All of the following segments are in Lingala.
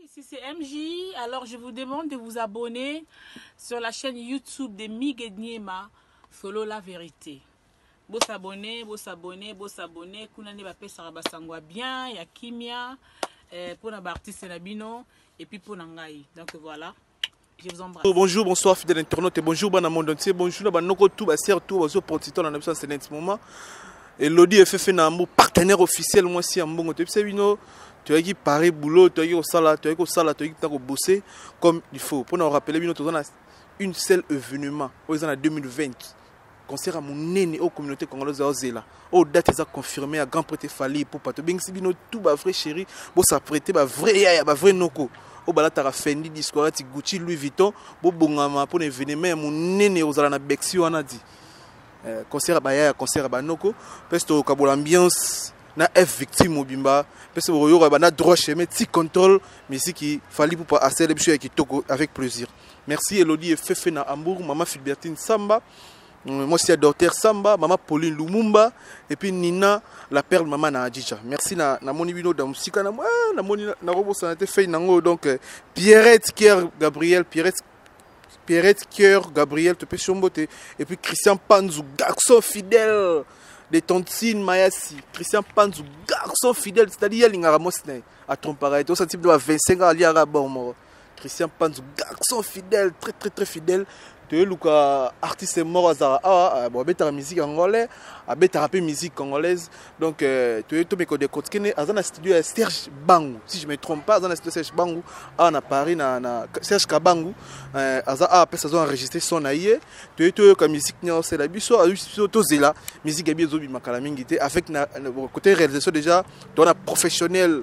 Ici c'est MJ, alors je vous demande de vous abonner sur la chaîne YouTube de Migue Niema, Solo la vérité. Bo s'abonner, bo s'abonner, bo s'abonner, kuna nde bapesaka basango ya bien, ya kimia, eh, pona ba artistes na bino, et puis pona ngai. Donc voilà. Je vous embrasse. Oh, bonjour, bonsoir, fidèle internaute. Bonjour, bon monde entier. Bonjour, na banoko tout, ba sœur tout, bazo portito na biso en ce moment. Elodie Efefe na mbo partenaire officiel moi si ambongo te bise bino toyaki pare boulot toyaki kosala toyaki kosala toyaki ntango bosser comme il faut mpo na korapele bino toza na une seule événement oyo eza na 2020 concert ya monene oyo communauté congolaise aozela oyo oh, date eza confirme ya grand prete fali epupa tobengisi bino tout ba vrai chéri bosa prete ba vrai yaya ba vrai noko oyo oh, balataka fendi disco alati gucci louis vuitton bobongama mpo na événement ya monene ekozala na bexi wana di eh, concert ya bayaya concert ya banoko mpesi tokabola ambiance na f victime mobimba mpesi bokoyoka bana droit chemin ti contrôle miziki fali pupa asele biso ya kitoko avec plaisir Merci Elodie et Fefe na Hambourg, maman Filbertine Samba, euh, moi c'est Dorter Samba, maman Pauline Lumumba et puis Nina la perle maman na Adjija. Merci na na moni bino da musika na ah, na moni na robo sanate fei nango donc euh, Pierrette Kier Gabriel Pierrette Pierrette Kier Gabriel te pesi mbote et puis Christian Panzu garçon fidèle de tontine mayasi christian panzu garçon fidèle c'est-à-dire alingaka mwasi na ye atrompaka ye te osati bino ba 25 ans aliaka bor moko Christian Panzu garçon fidèle très très très fidèle toyeluka artiste moko azala awa bon abetaka musique angolais abetaka mpe musique congolaise donc euh, toye tomeko de kotkene aza na studio ya serge bangu si je me trompe pas aza na studio serge bangu awa na paris na, na serge kabangu euh, aza awa mpe sazo enregistre son na ye toye toyoka musique nyonso osela biso biso tozela musique ya bi ezobima kala mingi te avec na, na, côté réalisation déjà towana professionnel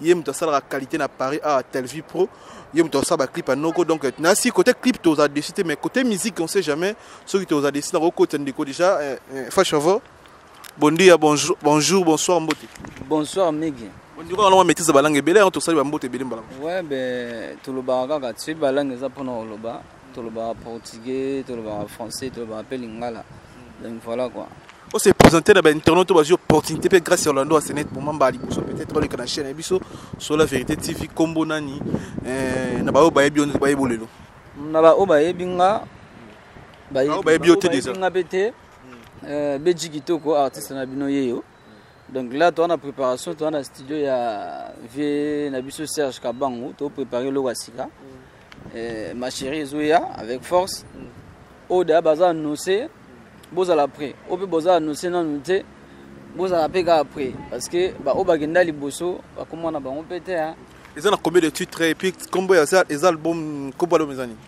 ye moto asalaka qualité na paris awa televie pro ye moto asala baclip ya noko donc nasi côté clip toza dessus te mais côté musique on sait jamais soki toza dessus na kokotisa ndeko déjà eh, eh, fashavo bon dia bonjour, bonjour bonsoir mbote bonsoir migi ondiko wana maîtrise balangue ebele yango tosali bambote ebele mbala ouais ben tolobaka kaka soki balangue eza mpona koloba tolobaka portugais tolobaka français tolobaka mpe lingala donc voilà quoi on se présenter na bainternet to bazwi opportunité mpe grâce ya orlando asenet moma mbala liboso peut-être oleka na chaîne na biso sur la vérité tv nkombo nani eh, na baoyo bayebi yo nde bayebi lelo na baoyo bayebi nga bayebi yo te déjà nga mpe te eh, beji kitoko artiste na bino yeyo donc là toza na préparation toza na studio ya vie na biso serge kabangu toprépare eloko ya sika eh, ma chérie ezoya avec force oda baza annonce bozala près oyo mpe boza annonce nanu te bozala mpe kaka près parce que baoyo bakenda liboso bakomona bango mpe te eza na combien de titre epuis nkombo eza album nkombo album eza nini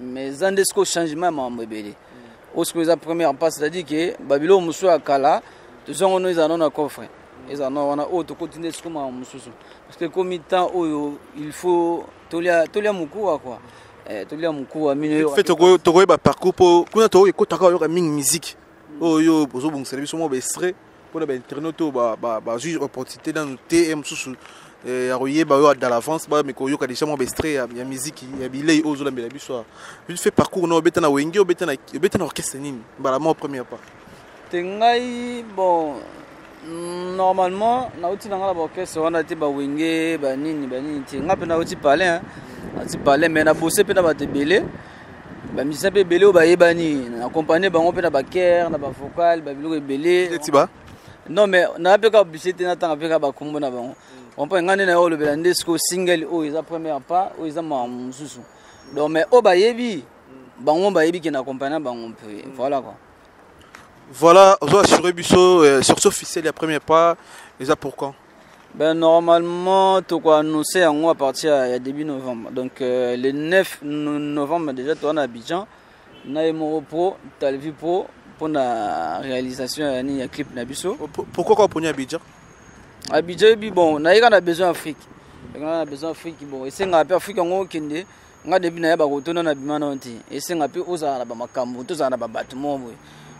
mais eza nde sikoyo changement ya makambo ebele oyo sikoyo eza première pas c'est-à-dire ke babiloko mosusu ya kala tozango no ezala no na coffre ezala no wana oyo tokoti nde sikoyo makambo mosusu parce que ekomi temps oyo il faut tolia tolia mokuwa quoi eh, tolia mokuwa mino fe tokoyeba parcours mpo kuna tokoki ekotaka oyoka mingi musique oyo ozobongisela biso mwa baextrait mpo na bainternaute oyo bazwi opportunité nanu te mosusu eh, ya koyeba oyo da l'avance bameka koyoka déjà mwa baestrait ya miziki ya bilei oyo ozolambela biso awa vite fait parcours na obeta na wenge obeta na orchestre nini mbala moko première part te ngai bon normalement nauti na ngai na baorchestre wana te bawenge banini banini te ngai mpe nauti palin nauti palin mai na bose mpe na bato ebele ba musiciens pe belé ba yebani na accompagner bango pe na ba chœur na ba vocal ba biloko ebele ti ba non mais na pe ka obligé te na tanga pe ka ba kombo na bango on peut ngane na yo lobela nde siko single oyo eza première pas oyo eza ma mususu donc mais oyo bayebi bango bayebi ke na accompagner bango mpe voilà quoi voilà ozo assurer biso euh, sur ce officiel ya premier pas eza pour quand Ben normalement toko annoncer yango à partir ya début novembre. Donc euh, le 9 novembre déjà toi na Abidjan na Emoro Pro, Talvi Pro pour la réalisation ya ni ya clip na biso. Oh, pourquoi quoi poni Abidjan? Abidjan bi bon, na yeka na besoin Afrique. Na na besoin Afrique bon, esenga pe Afrique ngo kende. Nga depuis na yeba ko tona na bimana nti. Esenga pe ozala na ba makambo, tozala na ba bato mo boye.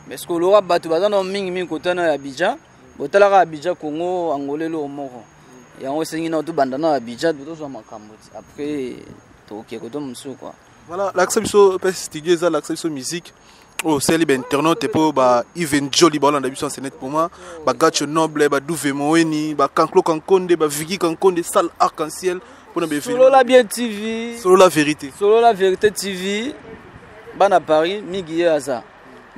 Mais ce que lora bato bazana mingi mingi kotana ya Abidjan. botalaka abidja congo angola eloko moko yango esengi nao tobanda na abidja tozwa makambo après tokokee kote mosusu kua voilà lakisa biso mpe studio eza lakisa biso musique oyo oh, osali bainternaute mpo ba even joli baolanda biso ensenet mpo moi bagacho noble baduve moeni bacanclo kankonde bavigi kankonde salle arc en ciel mpona solola bien tv solola vérité solola vérité tv bana paris mingi ye aza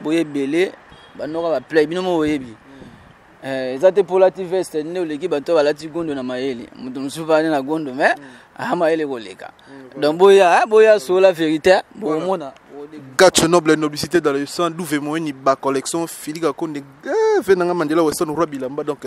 boye ebele banoka ba play bino moko boyebi eh, eza te mpo olati veste nde oleki bato oyo balati gondo na mayele moto mosusu bani na gondo me aa ah, mayele koleka mm, donc boya eh, boya sola verité bokomona gacho noble noblicité dans le sang duve moyeni bacollection filika konde eh, ve nanga mandela weston roi bilamba donc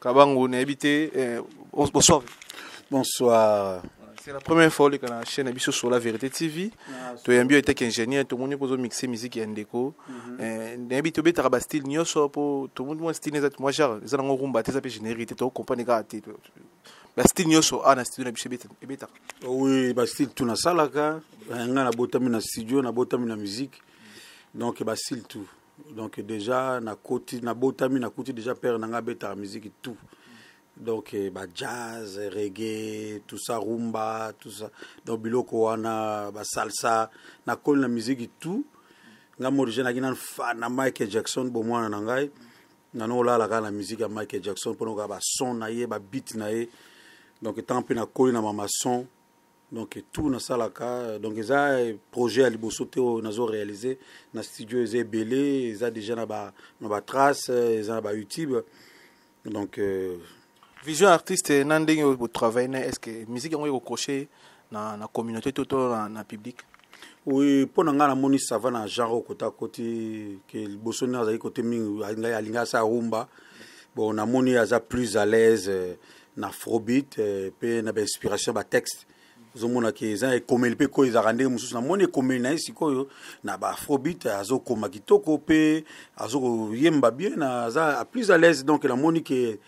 Kabangu nayebi te eh, bonsoir. Bonsoir. C'est la première fois oleka na chaîne biso sur la vérité TV. Ah, Toyambi était ingénieur, tout le monde pozo mixer musique ya ndeko. Mhm. Eh, nayebi tobetaka ba style nyoso po tout le monde moi style ezati moi genre eza nango rumba te eza pe générique te to comprendre kaka te. Ba style nyoso a ah, na studio na biso ebetaka. Oui, ba style tout na salaka, eh, nga na botami na studio, na botami na musique. Donc ba style tout. donc déjà nakoti nabotami nakuti déjà père na ngai abetaka miziki tout donc eh, ba jazz reggae tout ça rumba tout ça donc biloko wana ba salsa nakoli na miziki tout ngai morigine naki nanu fan na michael jackson bomwana na ngai nano olala kaka na miziki ya michael jackson mpona okaa bason na ye babit na ye donc ntango mpe nakoli na mamason donc tout nasalaka donc eza projet ya liboso te oyo nazo réalise na studio eza ebele eza déjà na ba na ba trace eza na ba youtube donc euh... vision artiste na ndenge oyo botravaille na est ce que musique yango ekokroche na, na communauté to to na, na public oui mpo na ngai namoni sava na genre oyo kota koti ke liboso nde azali kote mingi alingai asala rumba bon namoni aza plus à l'aise euh, na afrobeat eh, pe na ba inspiration ba texte ozomona ke eza ekomeli mpe koyo ezalaka ndenge mosusu namoni ekomeli na ye sikoyo na ba afrobeat azokoma kitoko mpe azokoyemba bien aza plus à l'aise donc namoni ke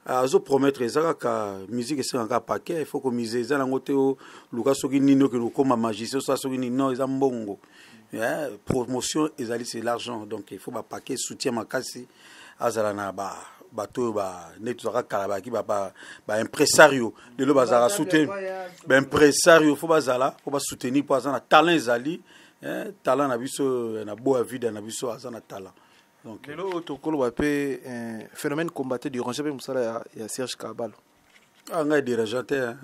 azopromettre eza kaka musique esengaka kaka paquet il faut komise eza nango te oluka soki nini okende kokoma magicien osala soki nini non eza mbongo promotion ezali c'est l'argent donc il faut bapaquet soutien makasi azala na ba bato oyo nde tozalaka kala bayaki baimpresario lelo bazalaka souteni baimpresario fo bazala fo basoutenir mpo aza na talent ezali eh, talent na biso eh, na boya vida na biso aza na talent lelo oyo tokoloba mpe eh, phénomène combatté du ranger mpe mosala ya serge kabalo ah, ngai dérangeant te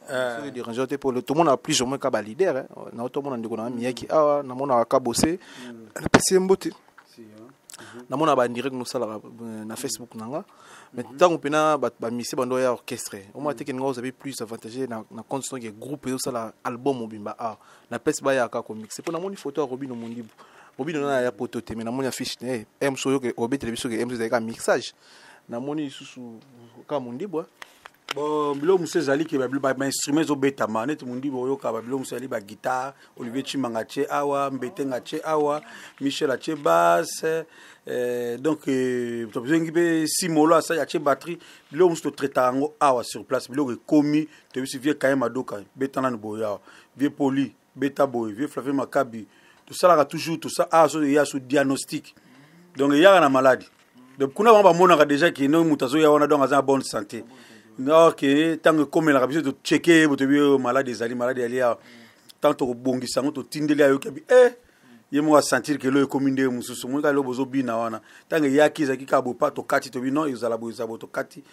Euh, soki dérangeant te mpo tomonaka plus ou moins ka balider eh. na oto omona ndeko nanga miyaki awa namonaka ka bose mm. napesi ye mbote namona bandirect nosalaka euh, na facebook na nga mais ntango mhm. mpena bamisie bando ya orchestre omona teke ninga ozabi plus avantage na compte soki ya groupe ezosala album mobimba awa na place bayaka komixe mpo namoni foto ya robino mondibu robino nana ya poto te mais namoni affiche na ye ems oyo obetele biso ke ems ezalaki ka mixage namoni lisusu ka mondibwa bon biloko mosusu ezali ke bainstrument ezobetama neti mondibi oyoka babiloko mosusu ezali baguitare olivier chimanga atie awa mbetenga atie awa michel atie basse eh, donc eh, tozengi mpe simolo asali atie batterie biloko mosusu totraitaka yango awa sur place biloko ekomi toyebisi vie kaye madoka beta nanu boye awa vie poli beta boye vieux flavier makabi tosalaka toujours tosa ah, aso eya so diagnostic donc eyaka na maladi donc kuna bango bamonaka déjà ke ndenge moto azoya wana donc aza na bonne santé donc ntango ekomelaka biso tocheke ye botoyebi oyo maladi ezali maladi yali awa ntango tokobongisa yango totindeli ayoki abi e ye moko asentir ke elo ekomi ndenge mosusu omoni kaka elo bozobina wana ntango eyaki ezalaki kaka bopa tokati tobi non ezala boye ezala boye tokati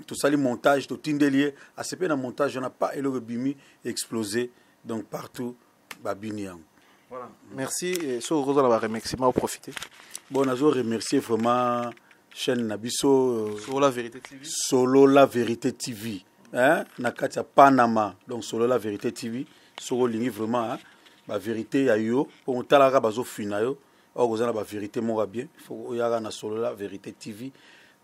tosali montage totindeli ye asepe na montage wana pa eloko ebimi explose donc partout babini yango voilà. merci soki okozala baremerciement oprofite bon nazo remercier vraiment chaîne na biso solo la vérité tv, solo la vérité TV. Hein? na kati ya panama donc solo la vérité tv soki olingi vraiment hein? vérité ya yo mpo otalaka bazofina yo or oza na ba verité moko ya bien faut oyaka na solo la verité tv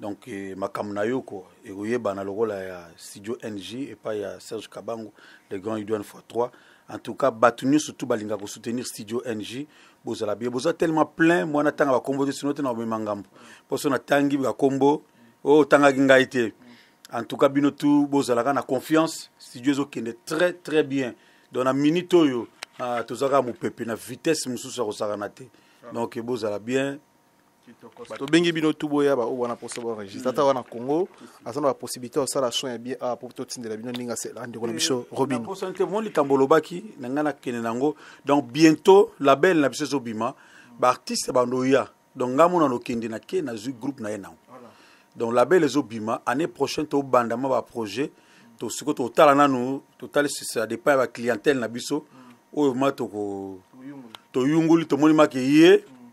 donc eh, makambo na yo ko ekoyebana lokola ya studio ng epai ya serge kabango le grand udn fois 3 en tout cas bato nyonso tu balinga kosoutenir studio ng bozala bie boza tellement plein mwana ntanga bakombo te sino te na komema ngambo mposo natangi bakombo oyo oh, otangaki ngai te en tout cas bino tu bozalaka na confiance studio ezokende très très bien donc na minute oyo ah, tozalaka mopepe na vitesse mosusu ya kosakana te ah. donc bozala bien tobengi bino tu boya baoyo wana mposa baenregistre ata wana congo aza na bapossibilité ya kosala soin ya bien awa mpo totindela bino ndenge asela ndeko na biso robinposani te mo likambo olobaki na ngai nakende na yango donc bientôt label na biso ezobima baartiste bando oya donc nga mona nokende na ke nazwi groupe na ye nango donc label ezobima année prochaine tobanda mwa baprojet tosiko totala nanu totali sisa depa ya baclientèle na biso mm. oyo ma toko toyunguli tomoni make ye mm.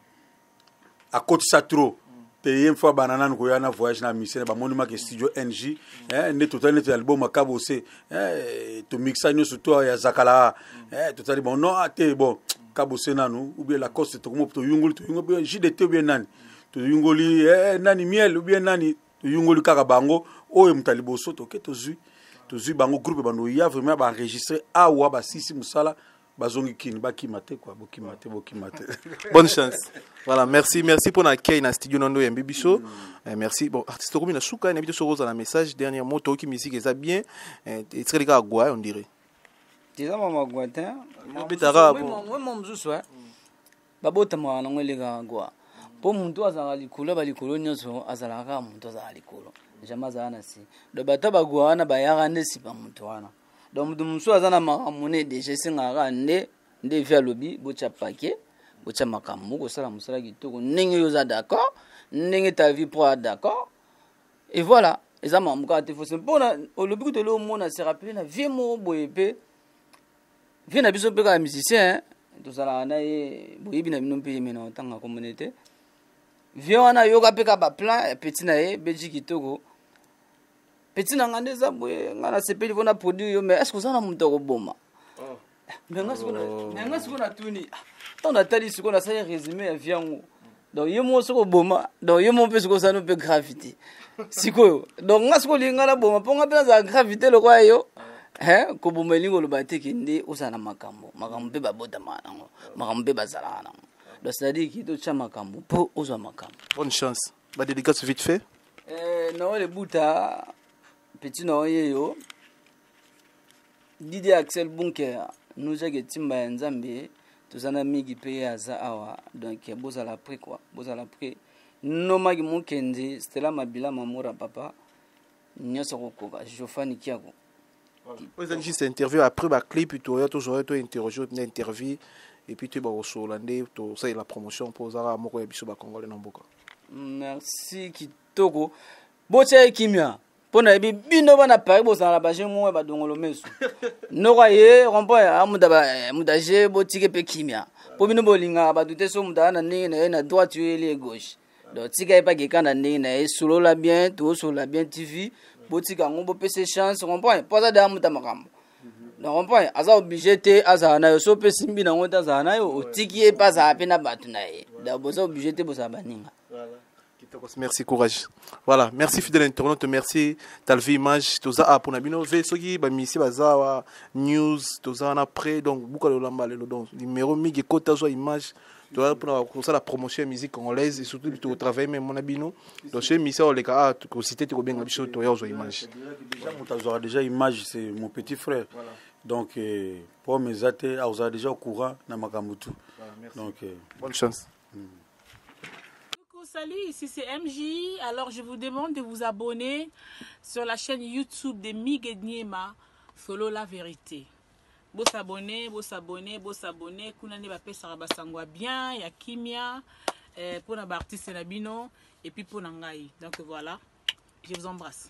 akotisa trop mm. te ye mfo abanda nanu koya na voyage na misene bamoni make studio ng eh, nde totali neti ya libo makabose eh, tomixa nyonso to ya zakala eh, totali bon non ah, te bon kabose nanu ou bien lacoste tokomo toyungoli toyungoli jdt ou bien nani toyungoli eh, eh, nani miel ou bien nani toyungoli kaka bango oyo moto ya liboso toke tozwi tozwi bango groupe banoya vraiment baenregistre awa basisi mosala bazongi kini bakima te kua bokima te bokima te bonne chance voilà merci merci mpona akei na studio na ndo oyambi biso mm. eh, merci bon artiste okomi na suka nayebi te soki ozala message dernier mot toyoki musique eza bien eh, etikali kaka gwa on dirait eza mwa magwa te mwa mosusu eh? mm. babotamaka nango elekaka gwa mpo motu azalaka likolo ya balikolo nyonso azalaka kaka motu azalaka likolo jamai azalaka na si donc bata bagwa wana bayaka nde sipa motu wana donc motu mosusu aza na makambo ne deja esengaka kaka nde nde vi alobi botya pake botya makambo kosala mosala kitoko ndenge yo oza d'accord ndenge ta vie pro a d'accord et voilà eza makambo kaka te fosi mpona olobi kutu eloo mona se rappele na vie moko boye mpe vie na biso mpe kaka musicien tozalaka na ye boyebi na bino mpe ye mena otanga komone te vie wana ayoka mpe kaka baplan ya peti na ye belgi kitoko peti na ngai nde eza boye ngai nasepeli mpo na produit yo mais estce oza na moto akoboma oh. me nga sikoyo na- Oh. me nga sikoyo natuni ah, ntango natali sikoyo nasali résumé ya vie yango donc ye moko soki oboma donc ye moko mpe sikoyo osali mpe gravité sikoyo donc nga sikoyo olingi nga naboma mpo nga mpe nazala gravité lokola yo Hein, koboma elingi koloba te ke nde ozala na makambo makambo mpe babotamaka nango makambo mpe bazalaka nango donc c'est-à-dire ki totya makambo mpo ozwa makambo bonne chance ba dédicace vite fait Eh, Noël Ebuta, petit Noël Yeyo, didi axel bunker nozaki etimba ya nzambe toza na migi mpe ye aza awa donc bozala prix kua bozala prix nomaki mokendi stela mabila mamora papa nyonso kokoka jofani kiako ezali juste interview après baclip toya tozwa to interroge na interview epuis toyeba kosolola nde tosalela promotion mpo ozalaka moko ya biso bacongolais na mboka merci toko botya ye kimia mpo nayebi bino bana paris bozala na baje moko ya badongolo meso noko aye rompoint ya mudaje botike mpe kimia mpo bino bolingaka bato te so moto aa na ndenge na ye na droite yo yeli ye gauche donc tika ye mpe akeka na ndenge na ye solola bien tosolola bien tv botika yango bopesa chance rompoint mpo aza deya moto ya makambo na rompoint aza oblige te azala na yo so mpe simbi na yango te azala na yo otiki ye mpe azala mpe na bato na ye donc boza oblige te bozala baninga Kitokos, merci courage. Voilà, merci fidèle internaute, merci Talvi Image, toza a pona bino ve soki ba misi bazawa news toza na près donc buka le lamba le donc numéro migi kota zo image toza pona ko sala promotion ya musique congolaise et surtout to travailler même mona bino donc chez misa o leka a ko citer to ko benga biso to ya zo image. Déjà mutazo déjà image c'est mon petit frère. Voilà. Donc euh, pour mes athées, aza déjà au courant na makambo tout. Voilà, merci. Donc euh, bonne chance. Coucou, salut, ici c'est MJ. Alors je vous demande de vous abonner sur la chaîne YouTube de Migue Niema, Solo la vérité. Bo s'abonner, bo s'abonner, bo s'abonner. Kuna nde bapesaka basango ya bien, ya kimia, eh, pona ba artistes na bino, et puis pona ngai. Donc voilà, je vous embrasse.